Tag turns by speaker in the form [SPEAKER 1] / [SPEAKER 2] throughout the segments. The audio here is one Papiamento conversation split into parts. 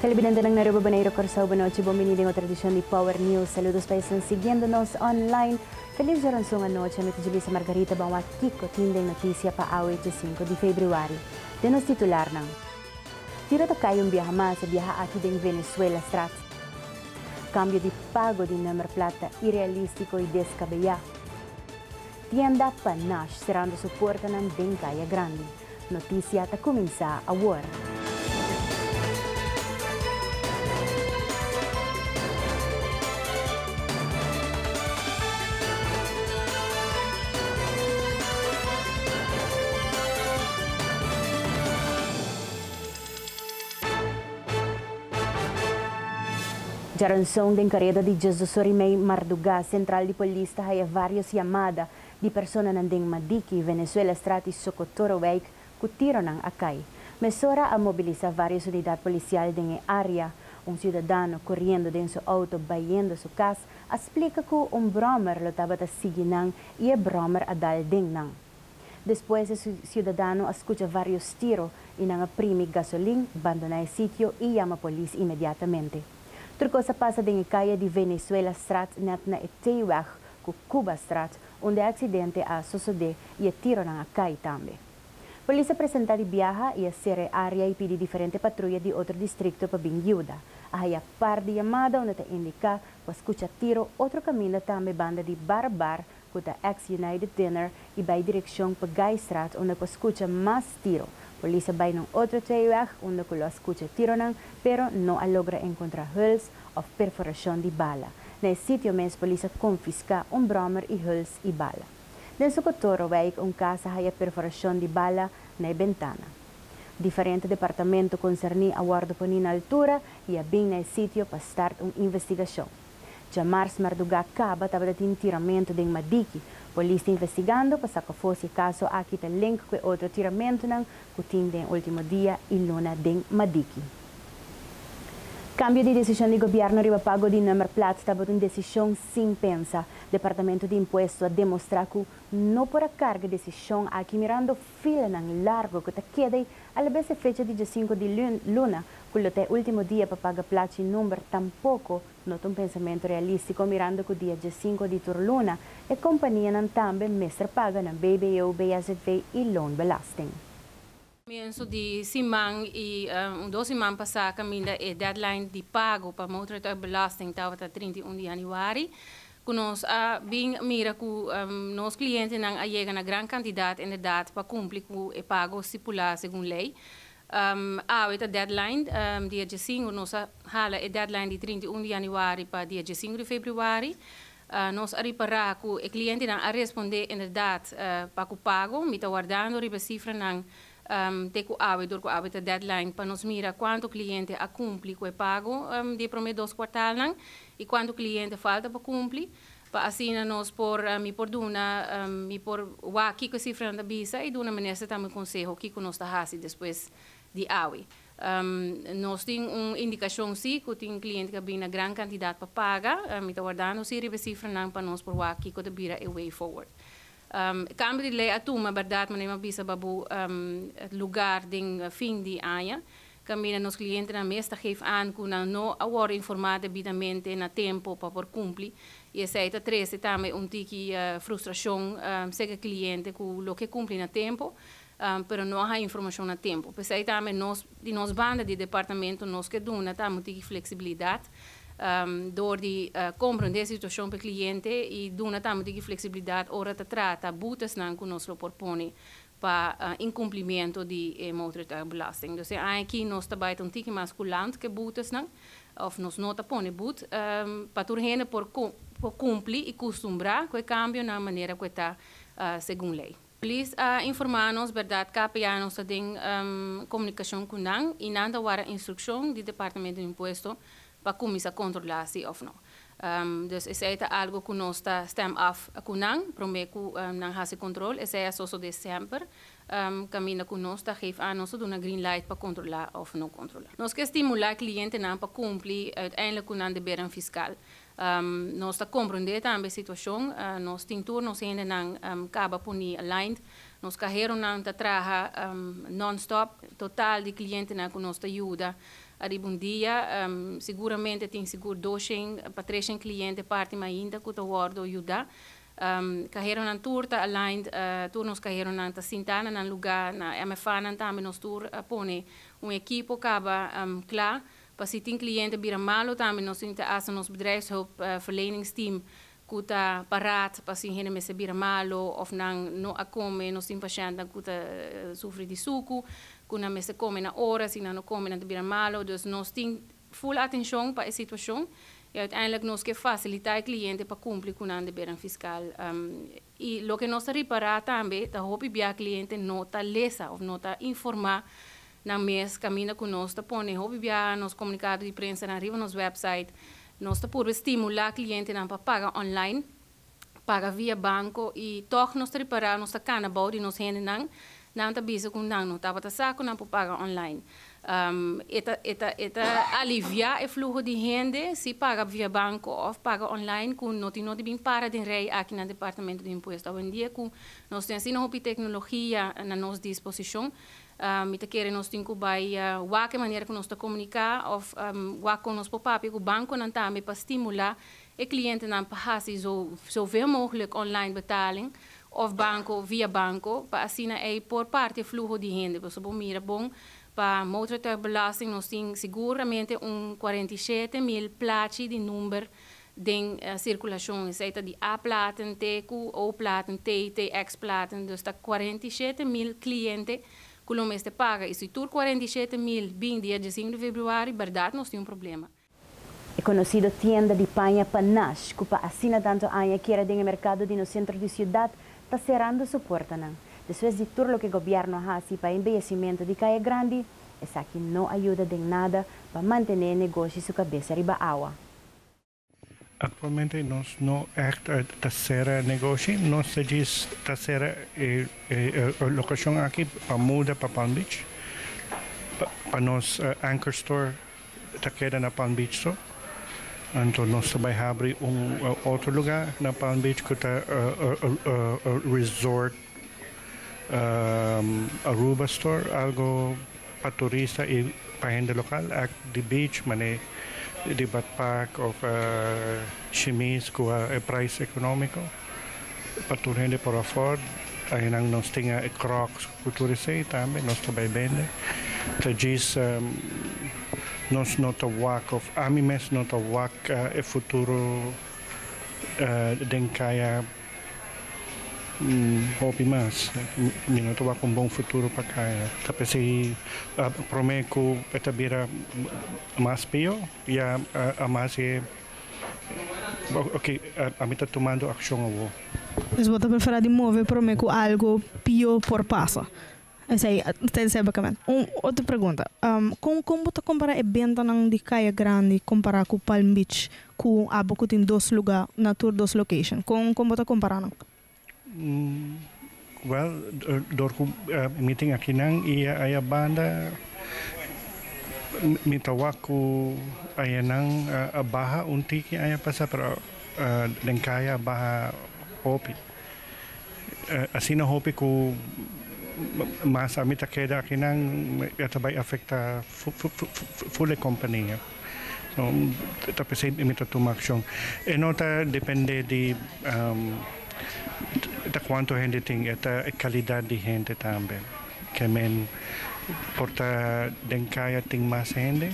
[SPEAKER 1] Telebidentenan Aruba Bonaire Corsou Bonochi Bon Bini den otro edicion di Power News Saludos pa esnan siguiendo nos online Feliz Djoranzon anochi Mi ta Julissa Margarita Ban wak kico tin den noticia pa awe chi sinku di Februari Den nos titularnan Tiro ta cay un biaha mas e biaha aki den Venezuela straat Cambio di pago di nummer plaat ta irealistico y descabeyá Tienda pa Nash cerando su puertanan den Caya Grandi. Notisia ta kuminsá awor. Djaranson den kareda di Jesusorimei Mardugá, sentral di polis ta haya varios yamada di personanan den Madiki, Venezuela straat di Socotorowijk cu tironan a cay. Mesora a mobilisa varios unidad policial den e area. Un ciudadano coriendo den su auto bayendo su cas a splica cu un brommer lo tabata sigui nan y e brommer a dal den nan. Despues e ciudadano a scucha varios tiro y nan a primi gasolin, bandona e sitio y yama polis inmediatamente. Tur cos a pasa den e calle di Venezuela straat net na e T-weg ku Kubastraat unda e aksidente a sosodé i e tironan a kai tambe. Polis a presentá di biaha i a sera e área i pidi diferente patruya di otro distrikto pa bin yuda. A haya par di yamada unda ta indiká ku a skucha tiro otro kaminda tambe banda di Bar Bar ku ta ex United Dinner i bai direkshon pa Gaistraat unda ku a skucha mas tiro. Polis a bai na un otro tweeweg unda ku lo a skucha e tironan pero no a logra enkontrá Huls of perforashon di bala. Na e sitio mes polis a konfiská un bròmer i hùls i bala. Den Sokotoro wijk un kas a haya perforashon di bala na e bentana. Diferente departamento konserní a wòrdu poní na altura i a bin na e sitio pa start un investigashon. Dja mars mardugá kaba tabata tin tiramentu den Madiki. Polis ta investigando pa sakafosi e kaso aki ta link ku e otro tiramentunan ku tin den último dia i luna den Madiki. Kambio di desishon di gobièrnu riba pago di nùmerplats tabata un desishon sin pensa. Departamentu di Impuestu a demostrá ku no por a karga desishon aki mirando filanan largu ku ta keda ei alabes e fecha di djasinku di luna ku lo ta e último dia pa paga plachi nùmer tampoko No ta un pensamentu realístiko mirando ku dia dje sinku di tur luna e kompanianan tambe mester paga na BBO, BSZV i loonbelasting. Komienso
[SPEAKER 2] di siman i un dos siman pasá kaminda e deadline di pago pa motorrijtuigbelasting tabata trinta i un di yanüari ku nos a bin mira ku nos klientenan a yega na gran kantidat inderdat pa kumpli ku e pago stipulá segun lei. Awe ta deadline dia diesingu, nos a hala e deadline di trinta i un di yanüari pa dia diesingu di februari. Nos a ripará ku e klientenan a respondé inderdat pa ku pago. Mi ta wardando riba e sifranan te ku awe dor ku awe ta deadline pa nos mira kuantu kliente a kumpli ku e pago di e promé dos kuartalnan i kuantu kliente falta pa kumpli. Pa asina nos por, mi por duna, mi por wak kiko e sifranan ta bisa i duna minister tambe un konseho kiko nos ta hasi despues di awe. Nos tin un indikashon si ku tin kliente ku a bin na gran kantidat pa paga. Mi ta wardando si riba e sifranan pa nos por wak kiko ta bira e way forward. Kambio di lei a tuma, bèrdat, manera mi a bisa babu lugar den fin di aña. Tambe nos klientenan mes ta geef aan ku nan no a wòrdu informá debidamente na tempu pa por kumpli i esei ta trese tambe un tiki frustrashon seke kliente ku lo ke kumpli na tempu pero no a haña informashon na tempu. P'esei tambe nos di nos banda di departamentu nos ke duna tambe un tiki fleksibilidat dor di komprondé e situashon p'e kliente i duna tambe un tiki fleksibilidat ora ta trata butesnan ku nos lo por pone pa inkumplimentu di e motortuigbelasting. Dus e aña aki nos ta bai ta un tiki mas kulant ku e boetesnan, òf nos no ta pone boet, pa tur hende por por kumpli i kustumbrá ku e kambionan manera ku e ta segun lei. Polis a informá nos bèrdat kapianos ta den komunikashon ku nan i nan ta wara instrukshon di Departamento di Impuesto pa cuminsa controla si of no. Dus esey ta algo cu nos ta stem af cu nan, prome cu nan haci control, esey a sosode semper, caminda cu nos ta geef anos ta duna green light pa controla of no controla. Nos ke stimula clientenan pa cumpli uiteindelijk cu nan debernan fiscal. Nos ta comprende tambe e situacion, nos tin tur nos hendenan caba poni aligned, nos caheronan ta traha non-stop, total di clientenan cu nos ta yuda Ariba un dia, siguramente tin sigur doshen pa treshen cliente parti ma ainda cu ta wordo yuda. Caheronan tur ta aligned, tur nos caheronan ta sinta na nan luga, na MFAnan tambe nos tur a pone un ekipo caba cla pa si tin cliente bira malo tambe nos tin ta hasta nos bedrijfshulpverleningsteam ku ta parat pasin hende mester bira malu òf nan no a kome, nos tin pashèntnan ku ta sufri di suku, ku nan mester kome na ora, si nan no kome nan ta bira malu, dus nos tin ful atenshon pa e situashon i uiteindelik nos ke fasilitá e kliente pa kumpli ku nan debernan fiskal. Y loke nos ta ripara tambe ta hopi bia cliente no ta lesa of no ta informa nan mes caminda cu nos ta pone hopi bia nos comunicado di prensanan riba nos website. Nos ta purba stimula clientenan pa paga online, paga via banco y tog nos ta ripara nos ta cana bao di nos hendenan Nan ta bisa ku nan no tabata sa ku nan por paga online. E ta aliviá e fluho di hende si paga via banko òf paga online ku no tin no di bin para den rei aki na Departamento di Impuesto. Awendia ku nos tin asina hopi teknologia na nos disposishon, mi ta kere nos tin ku bai wak e manera ku nos ta komuniká òf wak kon nos por papia ku bankonan tambe pa stimulá E klientenan pa hasi so vee moglek online betaling òf banko via banko pa asina ei por parti e fluho di hende. Pasobra bo mira bon pa Motorrijtuigbelasting nos tin siguramente un kuarenta i shete mil plachi di number den sirkulashon. Esei ta di A platen te ku O platen, TT, X platen. Dus ta kuarenta i shete mil kliente ku lo mester paga. I si tur kuarenta i shete mil bin dia diasinku di februari, bèrdat nos tin un problema. E conocido
[SPEAKER 1] tienda di paña Panache, cu pa asina tanto aña keda den e mercado di nos centro di ciudad, ta cerando su puertanan. Despues di tur loke gobierno a haci pa e embeyecimento di Caya Grandi, esaki no a yuda den nada pa mantene e negoshi su cabesa riba awa. Actualmente
[SPEAKER 3] nos no echt ta cera e negoshi, nos ta djis ta cera e locacion aki pa muda pa Palm Beach, pa nos anchor store Ta keda na Palm Beach so. Anto nos ta bai habri un otro lugá na Palm Beach ku ta resort Aruba store, algo pa turista i pa hende lokal. Act di beach mané di badpak òf shimis ku e price ekonómiko. Pa tur hende por aford, ahinan nos tin e crocs cu tur esey tambe, nos ta bay bende. Ta djis nos no ta wak, of ami mes no ta wak e futuro den caya hopi mas. Mi no ta wak un bon futuro pa caya. Ta p'esey prome cu e ta bira mas peo. Ya a mas e ok ami ta tumando akshon awo. Pues bo ta preferá
[SPEAKER 4] di move promé ku algu pio por pasa? Esei tensei bakamènt. Un otro pregunta, kon kon bo ta kompará e bentanan di Kaya Grandi kompará ku Palm Beach ku abo ku tin dos lugá na tur dos location? Kon kon bo ta komparanan?
[SPEAKER 3] Wèl, dor ku mi tin akinan i aya banda, mi ta wak ku ayanan a baha un tiki aña pasa, pero den kaya a baha hopi. Asina hopi ku mas ami ta keda akinan e ta bai afektá ful e kompania. No ta p'esei mi ta tuma akshon. E no ta dependé di ta kuantu hende tin, e ta e kalidat di hende tambe. Ke men por ta den kaya tin mas hende,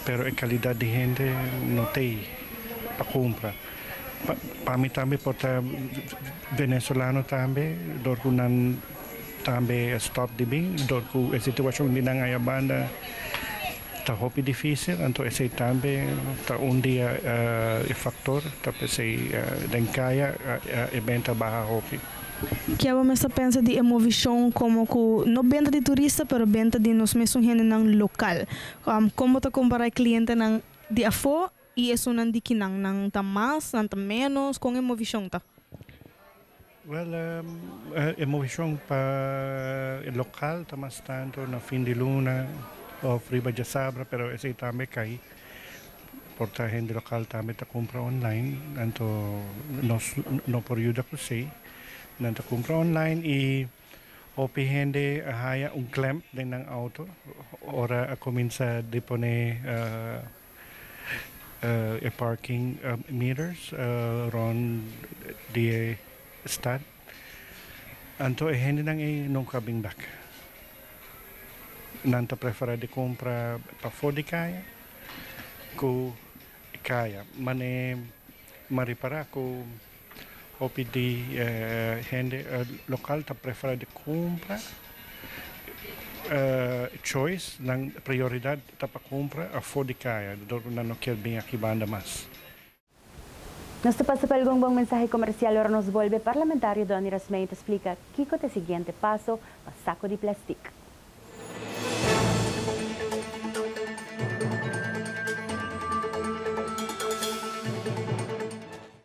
[SPEAKER 3] pero e kalidat di hende no t'ei pa kumpra. Pa pa mi tambe por ta venezolano tambe dor ku nan tambe a stòp di bin, dor ku e situashon di nan ayabanda. Ta hopi difícil, anto esei tambe ta un di e faktor ta p'esei den kaya e benta baha hopi. Ke bo
[SPEAKER 4] mester pensa di e movishon komo ku no benta di turista pero benta di nos mesun hendenan lokal? Kon bo ta kompará e klientenan di afó i esunnan di kinan? Nan ta mas? Nan ta ménos? Kon e movishon ta?
[SPEAKER 3] Wel e movishon pa e lokal ta mas tantu na fin di luna of riba djasabra pero esei tambe cai por ta hende lokal tambe ta cumpra online anto nos no por yuda cu esei nan ta cumpra online y hopi hende a haya un clamp den nan auto ora a cuminsa di pone. e parking meters rond di e stad anto e hendenan ei no ka bin bak nan ta prefera di compra pafo di caya cu caya mane ma ripara cu Hopi di e hende lokal ta prefera di kumpra choice, nan prioridat ta pa kumpra afó di kaya, dor ku nan no kier bin aki banda mas.
[SPEAKER 1] Nos ta pasa pa algun bon mensahe komersial ora nos bolbe, Parlamentario Donny Rasmijn ta splika kiko ta e siguiente paso pa sako di plastik.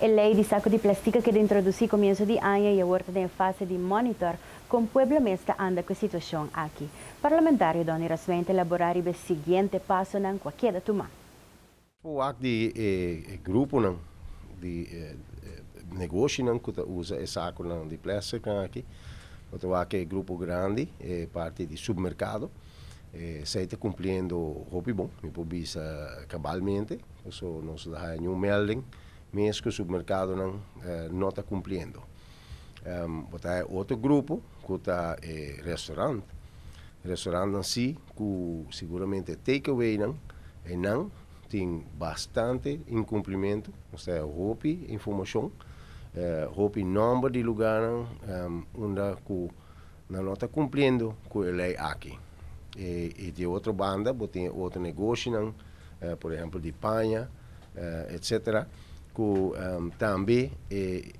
[SPEAKER 1] E lei di saku di plastik a keda introdusí komienso di aña i awor ta den e fase di monitor kon pueblo mes ta anda ku e situashon aki. Parlamentario Donny Raswijn ta elaborá riba e siguiente pasonan ku a keda tumá. Por wak
[SPEAKER 5] di e gruponan di negoshinan ku ta usa e sakunan di plèstiknan akí. Bo ta wak e grupo grandi, e parti di supermerkado, esei ta kumpliendo hopi bon. Mi por bisa kabalmente, paso nos no a haña niun mèlding mes ku supermerkadonan no ta kumpliendo. Bo ta haña otro grupo ku ta e restorant. Restorantnan sí cu seguramente take away nan e nan tin bastante incumplimentu nos ta e hopi informacion hopi nomber di lugarnan unda cu nan no ta cumpliendo cu e ley aki y di otro banda bo tin e otro negoshinan por ehempel di paña etc cu tambe e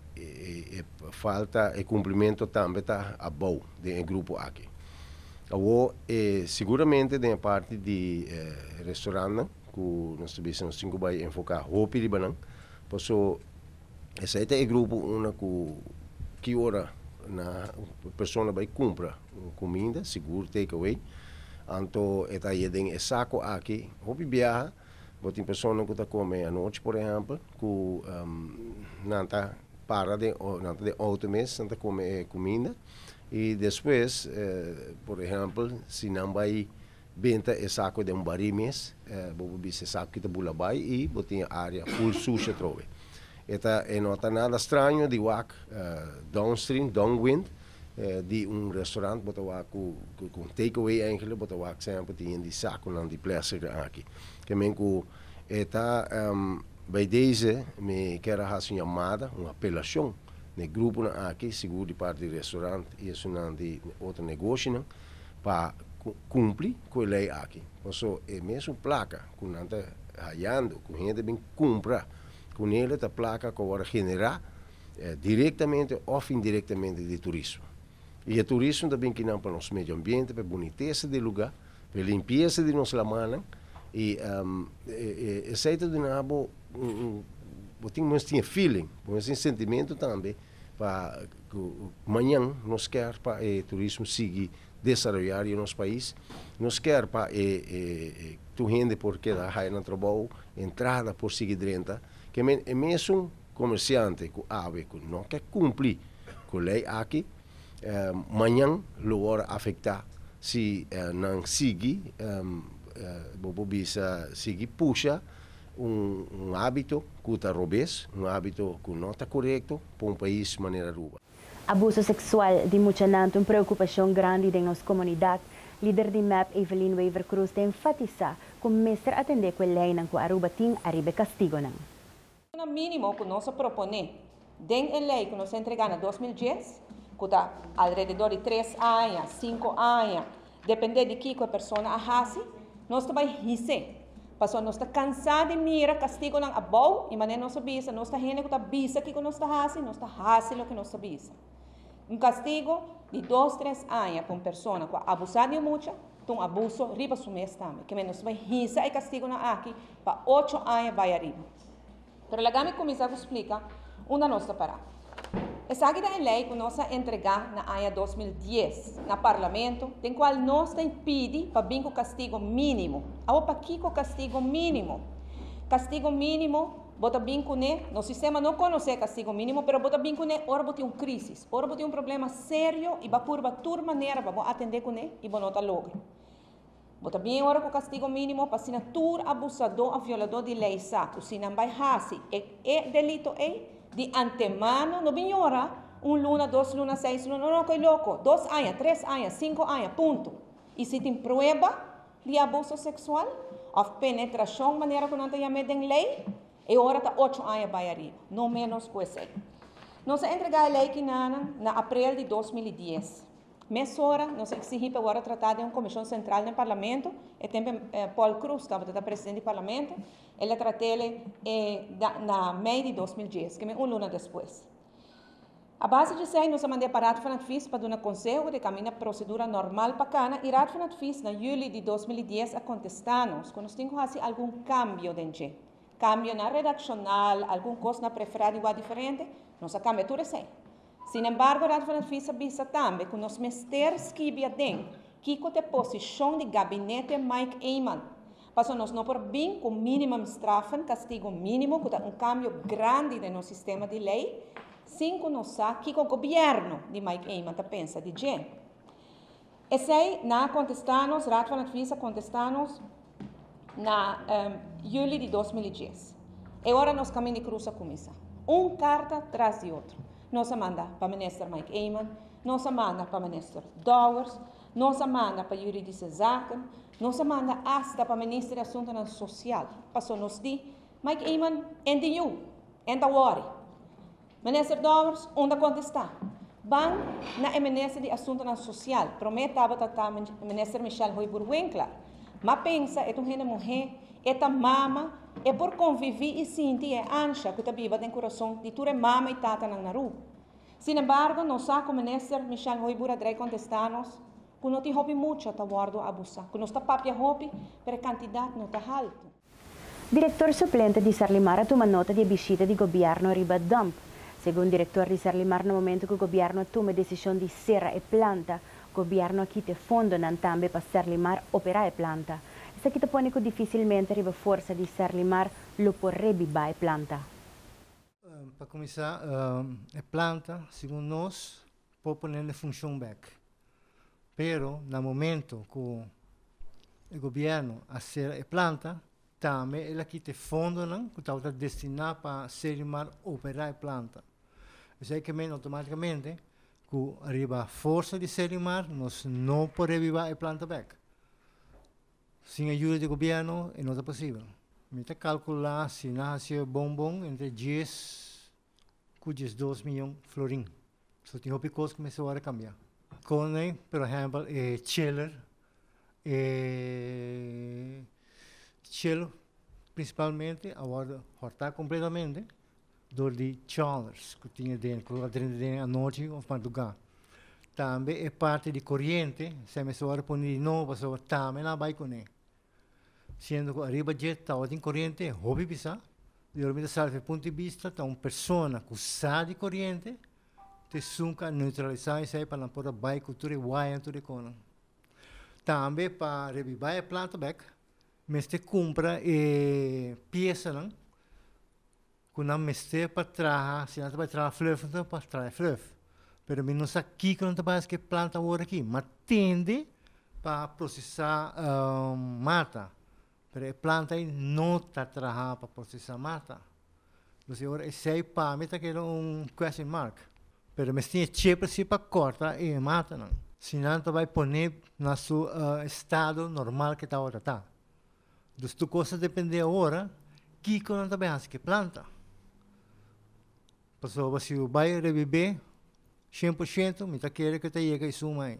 [SPEAKER 5] falta e cumplimentu tambe ta abao den e grupo aki. Awo e seguramente den e parti di e restaurantnan ku nos ta bisa nos tin ku bai enfoká hopi riba nan paso esei ta e grupo unda ku ki ora nan e persona bai kumpra un kuminda sigur take away anto e ta haña den e sako aki hopi biaha bo tin personanan ku ta kome anochi por ehèmpel ku nan ta para den nan ta den outo mes nan ta kome e kuminda. Y despues por ehempel si nan bay benta e saco den barí mes bo por bisa e saco ki ta bula bay y bo tin e área full sushi atrobe. E ta e no ta nada straño di wak downstream, downwind, di un restaurant bo ta wak cu cu un take away eigenlijk bo ta wak semper tin yen di saconan di plastic aki. Ke men cu e ta Bij deze mi ker a haci un yamada, un apelacion, na e gruponan aki, sigur di parti di restaurant i esunnan di otro negoshinan, pa kumpli ku e lei aki. Paso, e mesun plaka ku nan ta hayando, ku hende bin kumpra ku nele, ta plaka ku a wòrdu generá direktamente òf indirektamente di turismo. I e turismo ta bin kina pa nos medio ambiente, pa e bunitesa di e lugá. E limpiesa di nos lamannan i esei ta duna bo un bo tin mes tin e feeling bo mes tin e sentimentu tambe pa ku mañan nos ker pa e turismo sigui desaroyá riba nos pais nos ker pa e tur hende por keda haya nan trabou e entrada por sigui drenta kimen e mesun komersiante ku awe ku no ke kumpli ku lei aki Mañan lo wòrdu afektá si nan sigui, bo por bisa, sigui pusha un hábito ku ta robes, un hábito ku no ta korekto pa un pais manera Aruba. Abuso seksual
[SPEAKER 1] di muchanan ta un preokupashon grandi den nos komunidat. Lider di mep, Evelyn Wever Cruz ta enfatisá ku mester atendé ku e leinan ku Aruba tin ariba e kastigonan. Una
[SPEAKER 6] mínimo ku nos a proponé den e lei ku nos a entregá na dos mil dies, ku ta alrededó di tres aña, sinku aña, dependé di kiko e persona a hasi, nos ta bai his'é. Pasobra nos ta kansá di mira kastigonan abou i mané nos a bisa, nos ta hende ku ta bisa kiko nos ta hasi, nos ta hasi loke nos ta bisa. Un kastigo di dos, tres aña pa un persona ku a abusá di un mucha ta un abuso riba su mes tambe. Ke men nos bai hisa e kastigonan aki pa ocho aña bai ariba. Pero laga mi kuminsá ku splika unda nos ta pará. Esaki ta e lei ku nos a entregá na aña dos mil dies na Parlamento den kual nos ta pidi pa bin ku kastigo mínimo. Awo pakiko kastigo mínimo? Kastigo mínimo. Bo ta bin kuné, nos sistema no konosé kastigo mínimo, pero bo ta bin kuné ora bo tin un krísis, ora bo tin un problema serio i bo a purba tur manera pa bo atendé kuné i bo no ta logra. Bo ta bin ora ku kastigo mínimo pa asina tur abusadó òf violadó di lei sa ku si nan bai hasi e e delito ei di antemano, no bin yora un luna, dos luna, seis luna, no, no, koe loko, dos aña, tres aña, sinku aña, punto. I si tin prueba. di abuso seksual òf penetrashon manera ku nan ta yam'é den lei, e ora ta ocho aña bai ariba, no ménos ku esei. Nos a entregá e lei kinanan na aprel di dos mil i dies. Mesora nos a eksigí pa e wòrdu tratá den un komishon sentral den Parlamento, e tempu Paul Croes tabata ta presidente di Parlamento, el a trat'é e na mei di dos mil dies, keme un luna despues. A base di esei nos a manda e pa Raad van Advies pa duna konseho de kaminda prosedura normal pa kana i Raad van Advies na juli di dos mil i dies a kontestá nos ku nos tin ku hasi algun kambio den dje. Kambio na redakshonal, algun kos na preferá di wak diferente, nos a kambia tur esei. Sinembargo Raad van Advies a bisa tambe ku nos mester skibi aden kiko ta e posishon di gabinete Mike Eman Paso nos no por bin cu minimum straffen, castigo minimo, cu ta un cambio grandi den nos sistema di ley, sin cu nos sa kico gobierno di Mike Eman ta pensa di dje. Esey na a contesta nos, Raad van Advies a contesta nos na um, juli di dos mil i dies. E ora nos camin di cruz a cuminsa. Un carta tras di otro. Nos a manda pa minister Mike Eman, nos a manda pa minister Dowers, Nos a manda pa Juridische Zaken, nos a manda asta pa Minister di Asuntonan Sosial, paso nos di, Mike Eman, enta yu, enta wòri. Minister Dowers, un ta kontestá, Ban na e Minister di Asuntonan Sosial, promé tabata ta Minister Michelle Hoibur Winkler, m'a pensa e ta un hende muhé, e ta mama, e por konviví i sinti e ansha ku ta biba den kurason di tur e mama i tatanan na Ru. Sin embargo, nos sa cu Minister Michelle Hoybura drai contesta nos cu no tin hopi mucha ta wordo abusa, cu nos ta papia hopi pero e cantidad no ta halto.
[SPEAKER 1] Director suplente di Sarlimar a tuma nota di e bishita di Gobierno riba dump. Segun Director di Sarlimar na momento cu Gobierno a tuma e decision di cera e planta, Gobierno a kita e fondonan tambe pa Sarlimar opera e planta. Esaki ta pone cu dificilmente riba forsa di Sarlimar lo por rebiba e planta.
[SPEAKER 7] Pa kuminsá, e planta segun nos por pone na funshon bek, pero na momento ku e gobièrnu a sera e planta, tambe el a kita e fondonan ku tabata destiná pa Sedimar operá e planta. Esei ke mende outomátikamente ku riba forsa di Sedimar nos no por reaviva e planta bek. Sin ayuda di gobierno e no ta posibel. Mi ta calcula si nan haci e bon bon entre dies cu diesdos miyon florin. So tin hopi cos cu mester worde cambia. Con e por ehempel e chiller, e chiller principalmente a worde horta completamente. Dor di tjollers ku tin adentro lo a drenta den anochi òf madrugá. Tambe e parti di koriente si a mester wòrdu pone di nobo pasobra tambe nan a bai kuné. Siendo ku ariba dje tawa tin koriente hopi bisá. Di ora mi ta sal fu e punto di bista ta un persona ku sa di koriente ta esun ku a neutralisá esei pa nan por a bai ku tur e waya en tur e konan. Tambe pa reavivá e planta bèk mester kumpra e piesanan ku nan mester pa traha, si nan ta bai traha fluff enton pa traha e fluff, pero mi no sa kiko nan ta bai hask'e plant awor aki, ma tende pa prosesá mata, pero e plant ei no ta traha pa prosesá mata, dus e ora esei pa mi ta keda un question mark, pero mes tin e cheper si pa kòrta e matanan, si nan ta bai pon'é na su estado normal ke tabata ta. Dus tur kos ta dependé ora kiko nan ta bai hasi ki planta. Pasobra si yu bai rebibé shen por shento mi ta kere ku e ta yega esun mai.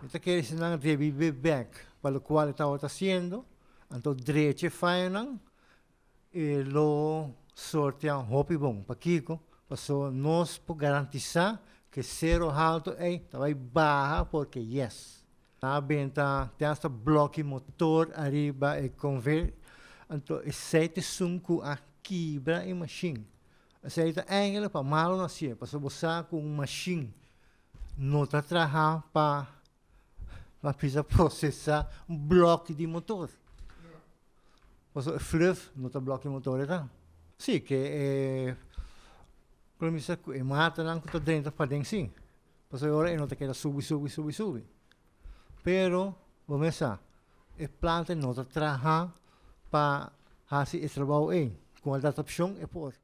[SPEAKER 7] Mi ta kere si nan rebibé bèk pa lokual e tabata hasiendo, anto drecha e fayonan E lo sortea un hopi bon. Pakiko? Paso nos por garantisa ku e sero haltu ei ta bai baha por ke yes. Na ben ta ten asta bloki motor ariba e konveyor, anto esei ta esun ku a kibra e mashin. Esei ta èngele pa malo na hasié, paso bo sa ku un mashin no ta traha pa bisa procesa un bloki di motor. Pasobra e fluff no ta bloki di motor ekan. Si, ke e lo bisa ku e matanan ku ta drenta paden si. Pasobra e ora e no ta keda subi, subi, subi, subi. Pero bo mes sa e planta no ta traha pa hasi e trabou ei. Kon adaptashon e por.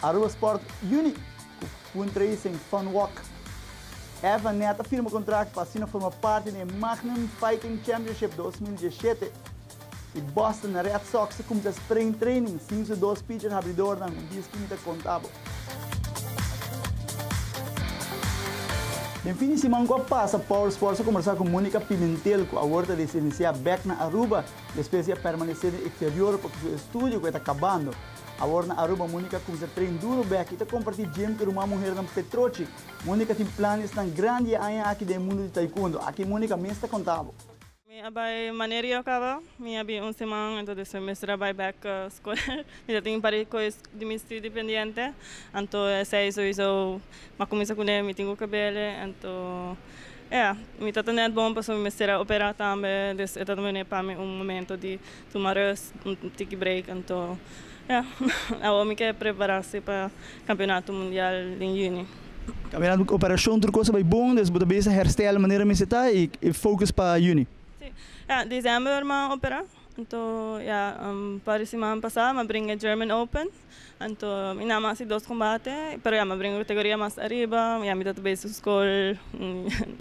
[SPEAKER 8] Aruba Sport Uni cu Fundraising Fun Walk. Evan net a firma contract pa asina forma parti den Magnum Fighting Championship dos mil diesshete y Boston Red Sox ta cumsa spring training sin su dos pitcher habridornan un disco mi ta conta bo. Den fin di siman cu a pasa Power Sports a combersa cu Monica Pimentel cu awor ta residencia bek na Aruba despues di a permanece den exterior pasobra su estudio cu e ta cabando. Awor na Aruba, Monica cuminsa train duro bek y ta comparti gym cu ruman muhernan Petrocci. Monica tin planesnan grandi e aña aki den e mundo di taekwondo. Aki Monica mes ta conta bo. Mi a bai
[SPEAKER 9] manera io caba, mi a bin un siman, anto despues mester a bai bek ca scuela, mi ta tin pare coes di mi studio pendiente, anto esey sowiso ma cuminsa cune mi tin cu cabele, anto ea mi tata net bon pasobra mi mester a opera tambe, des e ta tambene pami un momento di Tuma rus, un tiki break anto ya awo mi ke preparasi pa kampionato mundial den juni. Kaminando ku
[SPEAKER 8] operashon tur kos a bai bon dus bo ta bisa hèrstel manera mester ta i fokus pa juni. Si, ya desèmber
[SPEAKER 9] mi a operá, anto ya parisi mi a bringa German Open. Anto mi na masi dos combate pero ya mi a bringa categoria mas ariba ya mi ta ta besi school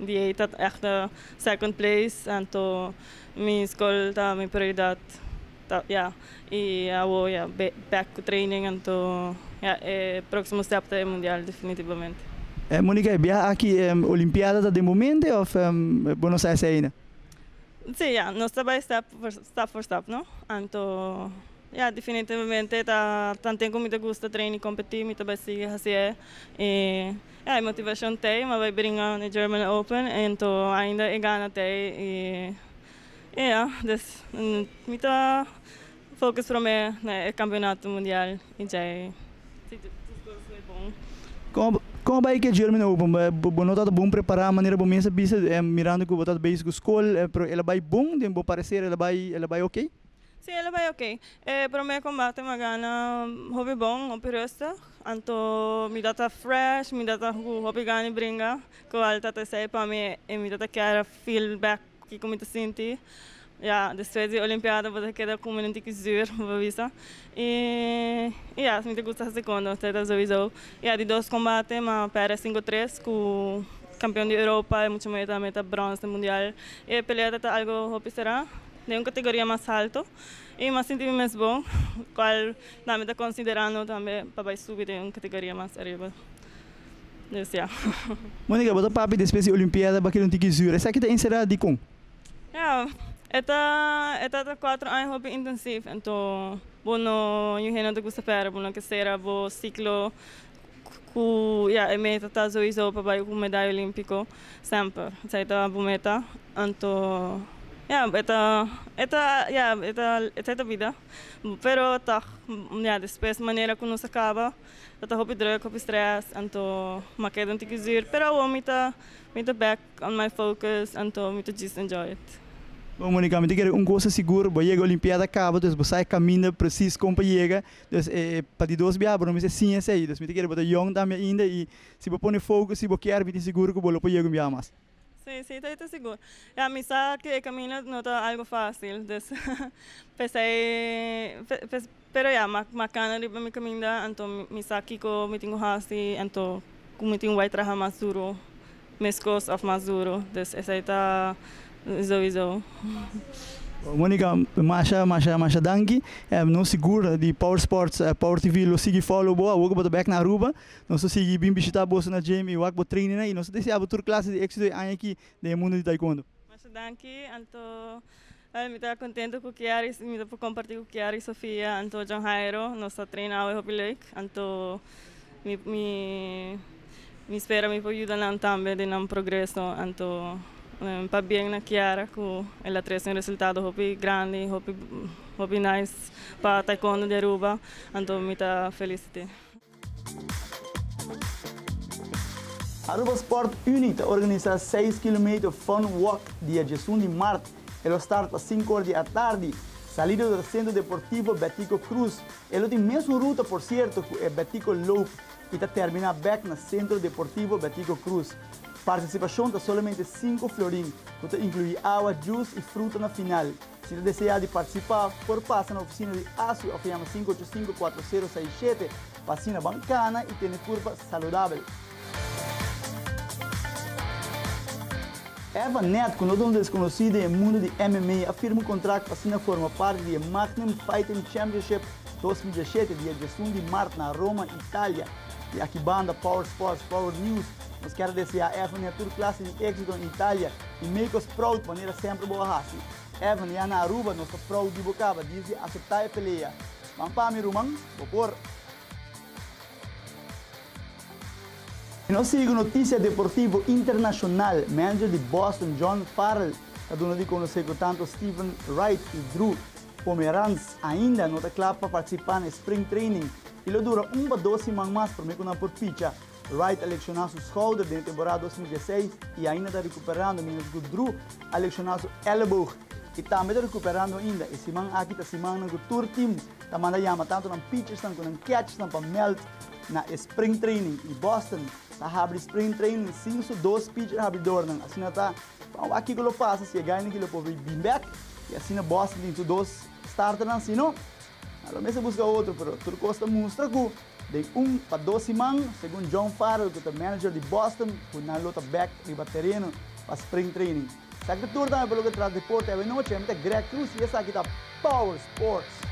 [SPEAKER 9] di ey ta echt second place anto mi school ta mi prioridad ta ya y awo ya back cu training anto ya e proximo step ta e mundial definitivamente. Monica e
[SPEAKER 8] biaha aki e olimpiada ta den bo mente of bo no sa esey aina? Si ya
[SPEAKER 9] nos ta bay step por step no anto. Ya, definitivamente ta tanten ku mi ta gusta treina i kompetí, mi ta bai sigui hasi e. I ya, e motivashon ta ei mi a bai bringa na e German Open, anto ainda e gana ta ei, i i ya, dus mi ta fokus promé na e kampionato mundial i djai, si tur kos bai bon. Kon a bai ku e German
[SPEAKER 8] Open? Bo no tabata bon prepará? Manera bo mes a bisa, mirando ku bo tabata bezig ku skol, pero el a bai bon? Den bo pareser el a bai, el a bai oke? Si e lo bai ok.
[SPEAKER 9] E prome combate mi a gana hopi bon hopi rustig anto mi dat a fresh mi dat a cu hopi gana di bringa cual tat esey pa mi e mi dat a kier a feel back kico mi ta sinti ya despues di olimpiada bo ta keda cu minan tiki zuur bo ta bisa y y ya mi ta gusta hasi con lo setter sowiso y ya di dos combate mi a perde a cinco tres cu campeon di europa y mucho mer ta bronce mundial y e pelea tabata algo hopi sera. Den un kategoria mas alto i mi a sinti mi mes bon kual na mi ta konsiderando tambe pa bai subi den un kategoria mas ariba dus ya.
[SPEAKER 8] Monica, bo ta papi despues di Olimpiada bakila un tiki zuur. Esaki ta enserá dikon? Ya, e ta
[SPEAKER 9] e ta ta kuatro aña hopi intensif, enton bo no yu hende no ta gusta pèrdè, bo no ke sera bo siklo. Ku ya e meta ta souiso pa bai ku medaya olimpiko semper. Esei ta bo meta. Anto ya e ta e ta ya e ta esei ta bida. Pero tog ya despues manera ku nos a kaba ta hopi druk hopi stress anto ma keda un tiki zur. Pero awor mi ta mi ta back on my focus anto mi ta just enjoy it. Bon Monica mi ta
[SPEAKER 8] kere un cosa sigur bo yega olimpiada kaba, dus bo sa e kaminda presis kon pa yega. Des e pa di dos biaha bo no mester siña esei, des mi ta kere bo ta yòn tambe ainda i si bo pone fokus i bo kier mi tin sigur ku bo lo por yega un biaha mas. Sí, sí, ta e ta
[SPEAKER 9] sigur. Ya mi sa ku e kaminda no ta algu fásil, des p'esei pero ya mi a kana riba mi kaminda anto mi sa kiko mi tin ku hasi, anto ku mi tin wak traha mas duru Mescos of mas duro, dus esai ta zoizo.
[SPEAKER 8] Monica, masha masha masha danki, en nos sigur di Power Sports e Power TV lo sigui follow bo, awor cu bo ta bek na Aruba, nos ta sigui bin bishita boso na gym y wak bo trainingnan y nos ta deseabotur clase di exito e aña aki den e mundo di Taekwondo. Masha danki,
[SPEAKER 9] anto Ai mi ta contento cu Kiara y mi ta por comparti cu Kiara y Sofia anto John Jairo nos ta traina awe hopi leuk anto mi mi mi spera mi por yuda nan tambe den nan progreso anto pa bien na Kiara cu el a trece un resultado hopi grandi hopi hopi nice pa taekwondo di Aruba anto mi ta felicite.
[SPEAKER 8] Aruba Sport Unie ta organisa seis kilometer fun walk dia djesun di mart. E lo start pa sinku or di atardi, salida di Centro Deportivo Betico Cruz. E lo tin mesun ruta, por sierto, ku e Betico Loop i ta terminá bèk na Centro Deportivo Betico Cruz. Partisipashon ta solamente sinku florin, ku ta inkluí awa, jus i fruta na final. Si ta deseá di participa, por pasa na oficina di ASI of yama sinku ocho sinku kuater sero sai shete pa asina ban kana y tene curpa saludabel. Eva Net, cu no ta un desconoci den e mundo di MMA, a firma un contract pa asina forma parti di e Magnum Fighting Championship dos mil diesshete dia diesun di mart na Roma, Italia. Di aki banda, Power Sports, Power News, Nos kier desea Evany a tur klase di éksito na Italia i make us proud manera semper bo a hasi. Evany, ya na Aruba nos ta proud di bo kaba dies di aseptá e pelea. Ban pa mi ruman, bo por! I nos sigui ku notisia deportivo internashonal. Manager di Boston, John Farrell, ta duna di konosé ku tantu Steven Wright i Drew Pomeranz ainda no ta kla pa partisipá na e spring training i lo dura un pa dos siman mas promé ku nan por picha. Wright a lekshona su skouder den e temporada dos mil diesseis i ainda ta rekuperando, mientras ku Drew a lekshona su elleboog i tambe ta rekuperando ainda. E siman aki ta simannan ku tur tim ta manda yama tantu nan pitchersnan ku nan catchersnan pa mèld na e spring training i Boston ta habri spring training sin su dos pitcher habridornan. Asina ta pa wak kiko lo pasa si e gainan aki lo por bin bèk i asina Boston tin su dos starternan si no. Nan lo mester busca otro, pero tur cos ta mustra cu den un pa dos siman, segun John Farrell cu ta manager di Boston, cu nan lo ta bek riba tereno pa spring training. Sa ki ta tur tambe pa loke tras deporte awe nochi. Mi ta Greg Cruz y esaki ta Power Sports.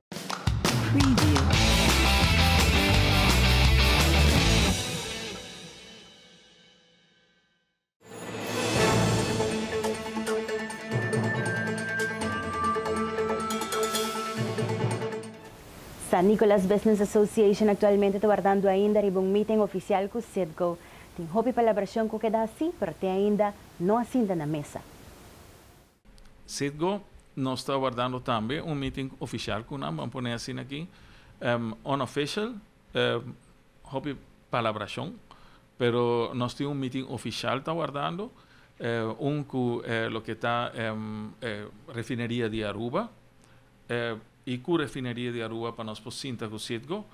[SPEAKER 1] San Nicolas Business Association aktualmente ta wardando ainda riba un meeting ofisial ku Citgo. Tin hopi palabrashon ku keda hasi, pero te ainda no a sinta na mesa. Citgo,
[SPEAKER 10] Nos ta wardando tambe un meeting ofishal ku nan, ban pone asina aki, unofficial, hopi palabrashon, pero nos tin un meeting ofishal ta wardando, un ku loke ta Refineria di Aruba, i ku Refineria di Aruba pa nos por sinta ku Citgo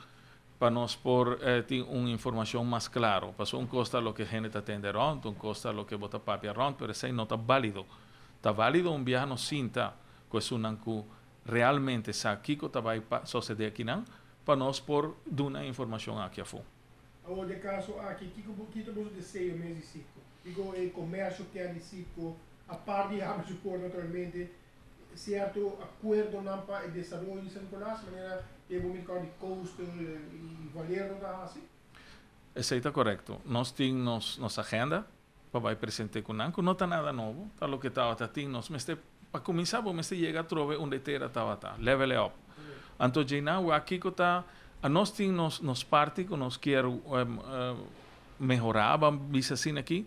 [SPEAKER 10] Pa nos por tin un informacion mas claro. Paso un cos ta loke hende ta tende rond, un cos ta loke bo ta papia rond, pero esey no ta balido. Ta valido un bia nos sinta cu esunnan cu realmente sa kico ta bay sosede akinan pa nos por duna e informacion aki afo. Awor den e caso
[SPEAKER 11] aki, kico bo kita boso deseo mes di Citgo? Kico e comercio kier di Citgo? Apart di habri su por naturalmente, Cierto acuerdonan pa e desaroyo di San Nicolas, manera ke bo mira di Coastal y Valero ta haci? Esey ta
[SPEAKER 10] correcto. Nos tin nos nos agenda pa bay presente cu nan, cu no ta nada nobo, ta loke tabata tin. Nos mester, pa cuminsa bo mester yega atrobe unda e tera tabata, level e op. Anto djey nan wak kico ta, nos tin nos nos parti cu nos kier mehora, ban bisa asina aki,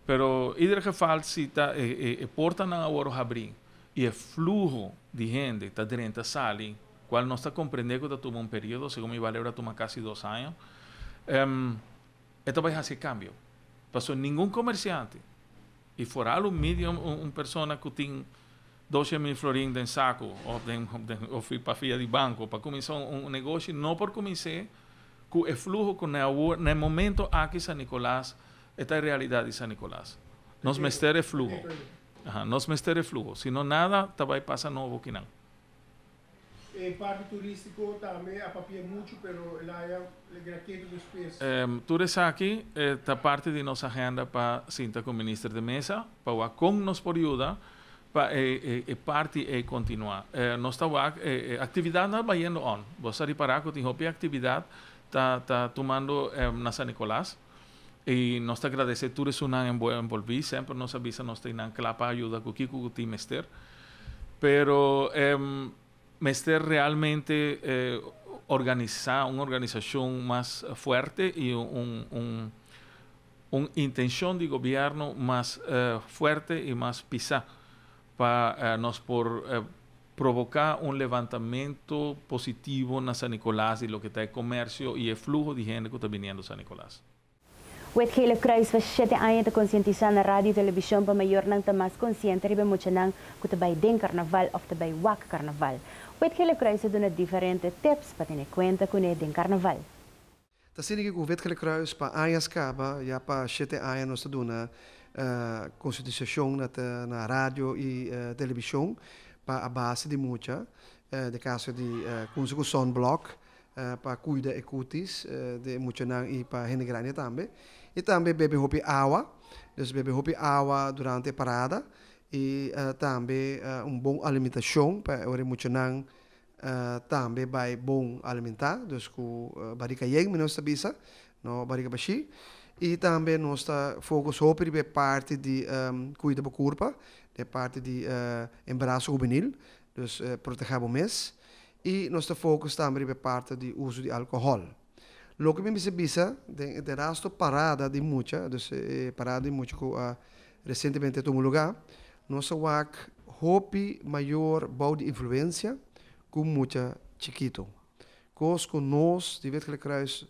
[SPEAKER 10] Pero ieder geval si ta e portanan a worde habri y e fluho di hende ta drenta sali, cual nos ta comprende cu ta tuma un periodo, segun mi baleu ta tuma casi dos aña, e ta bay haci e cambio. Pasobra ningun comerciante y foral un medium, un persona cu tin. Doce mil florin den saku of den of pa fia di banco pa cuminsa un negoshi no por cumins'é cu e fluho cu n'e awor n'e momento aki San Nicolas e ta e realidad di San Nicolas. Nos mester e fluho. Nos mester e fluho. Si no nada ta bay pasa nobo kinan. E
[SPEAKER 11] parti turístiko tambe a papia muchu pero Layan logra keda ku spes. Tur esaki
[SPEAKER 10] ta parti di nos agenda pa sinta ku Minister de Meza pa wak kon nos por yuda pa e parti ei kontinuá. Nos ta wak e aktividatnan a bayendo on. Boso a ripará ku tin hopi aktividat ta tumando na San Nicolas. I nos ta gradesé tur esunnan envolví. Semper nos a bisa nos ta ei nan kla pa ayuda ku kiko ku tin mester. Pero e mester realmente organisá un organisashon mas fuerte i un intenshon di gobièrnu mas fuerte i mas pisá. Pa nos por provoká un levantamentu positivo na San Nicolas di loke ta e komersio i e fluho di hende ku ta biniendo San Nicolas. Wetgele
[SPEAKER 1] Croes pa shete aña ta konsientisá na radio i televishon pa mayornan ta mas konsiente riba e muchanan ku ta bai den karnaval òf ta bai wak karnaval. Wetgele Croes a duna diferente tips pa tene kuenta kuné den karnaval. Ta
[SPEAKER 12] sigue cu Witgele Croes pa añas caba, ya pa shete aña nos ta duna consientisacion na ta na radio y television pa a base di mucha, den caso di cunsa cu sunblock pa cuida e cutis di e muchanan y pa hende grandi tambe. Y tambe bebe hopi awa, dus bebe hopi awa durante e parada y tambe un bon alimentacion pa ora e muchanan Tambe bai bon alimentá, dus ku bariga yen, mi nos ta bisa, no bariga bashí. I tambe nos ta fokus hopi riba e parti di kuida bo kurpa, e parti di embaraso hubenil, dus protegé bo mes. I nos ta fokus tambe riba e parti di uso di alkohòl. Loke mi mester bisa den e terasto parada di mucha, dus e parada di mucha ku a Resientemente ta un lugá nos a wak hopi mayor bou di influensia ku un mucha chikitu, kos ku nos di Witgelik Kruis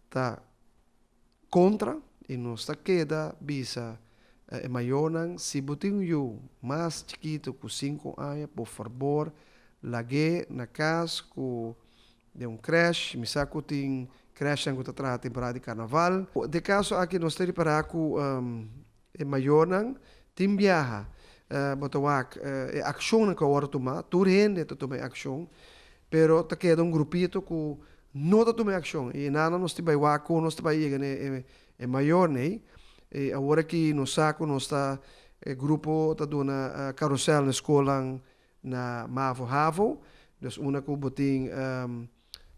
[SPEAKER 12] ta kontra i nos ta keda bisa e mayornan, Si bo tin un yu mas chikitu ku sinku aña, por farbor lag'é na kas ku Den un crèche, mi sa cu tin crèchenan cu ta traha temporada di carnaval. Den caso aki nos ta repara cu e mayornan tin biaha. Bo ta wak e accionnan cu awor ta tuma, tur hende ta tuma e accion, pero ta keda un grupito cu no ta tuma e accion y enana nos tin bay wak con nos ta bay yega na e mayornan ey. Y awor aki nos sa cu nos ta, e grupo ta duna carusel na schoolnan na mavo havo dus una ku bo tin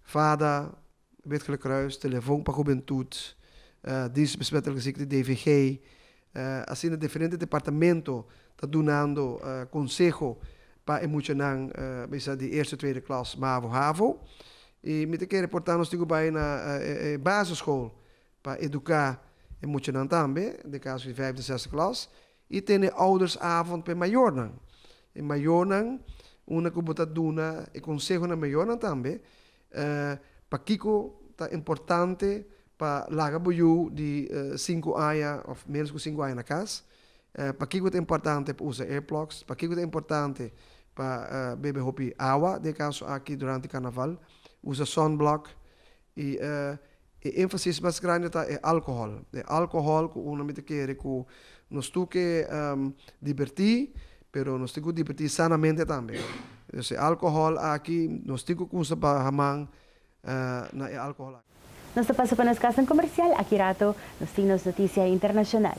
[SPEAKER 12] fada Witgele Croes telefon pa hubentut Dienst besmettelijke ziekte DVG asina diferente departamento ta dunando konseho pa e muchanan bisa di eerste tweede klas mavo havo i mi ta kere por ta nos tin ku bai na e basisschool pa eduka e muchanan tambe den kaso di vijfde zesde klas. I tene oudersavond pa e mayornan. E mayornan, unda ku bo ta duna e konseho na mayornan tambe, pakiko ta importante pa laga bo yu di sinku aña òf ménos ku sinku aña na kas? Pakiko ta importante pa usa earplugs? Pakiko ta importante pa bebe hopi awa, den e kaso aki durante karnaval? Usa sunblock? I e énfasis mas grandi ta e alkohòl. E alkohòl ku un a mester kere ku nos tur ke dibertí, pero nos tin ku dibertí sanamente tambe. Entonces e alkohòl aki, nos tin ku kusa baha man na e alkohòl aki. Nos ta pasa pa nos
[SPEAKER 1] kasnan komersial. Aki rato nos tin nos notisia internashonal.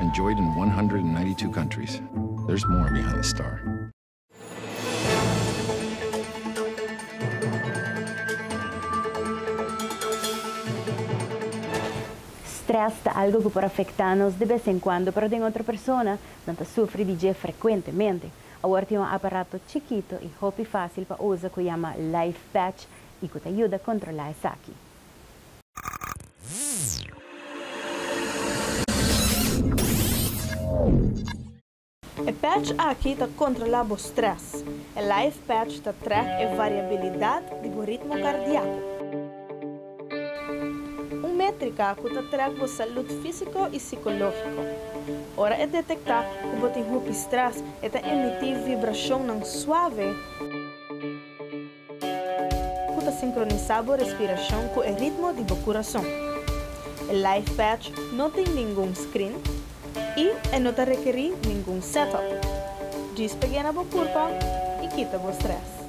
[SPEAKER 13] Enjoyed
[SPEAKER 14] in 192 countries, there's more behind the star.
[SPEAKER 1] Strès ta algo ku por afektá nos di bes en kuando, pero den otro persona nan ta sufri di dje frekuentemente. Awor tin un aparato chikito i hopi fásil pa usa ku yama Life Patch i ku ta yuda kontrolá esaki.
[SPEAKER 4] E patch aki ta kontrolá bo strès. E Life Patch ta trèk e variabilidat di bo ritmo kardiako. Un métrika ku ta trèk bo salud físiko i sikológiko. Ora e detektá ku bo tin hopi strès, e ta emití vibrashonnan suave. Cu ta sincronisa bo respiracion cu e ritmo di bo curason. E Life Patch no tin ningun screen y e no ta rekeri ningun setup. Djis pegena bo curpa y kita bo stress.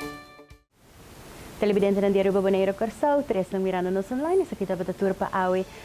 [SPEAKER 4] Telebidentenan
[SPEAKER 1] di Aruba, Boneiru, Corsou, tres nan mirando nos online. Esaki tabata tur pa awe.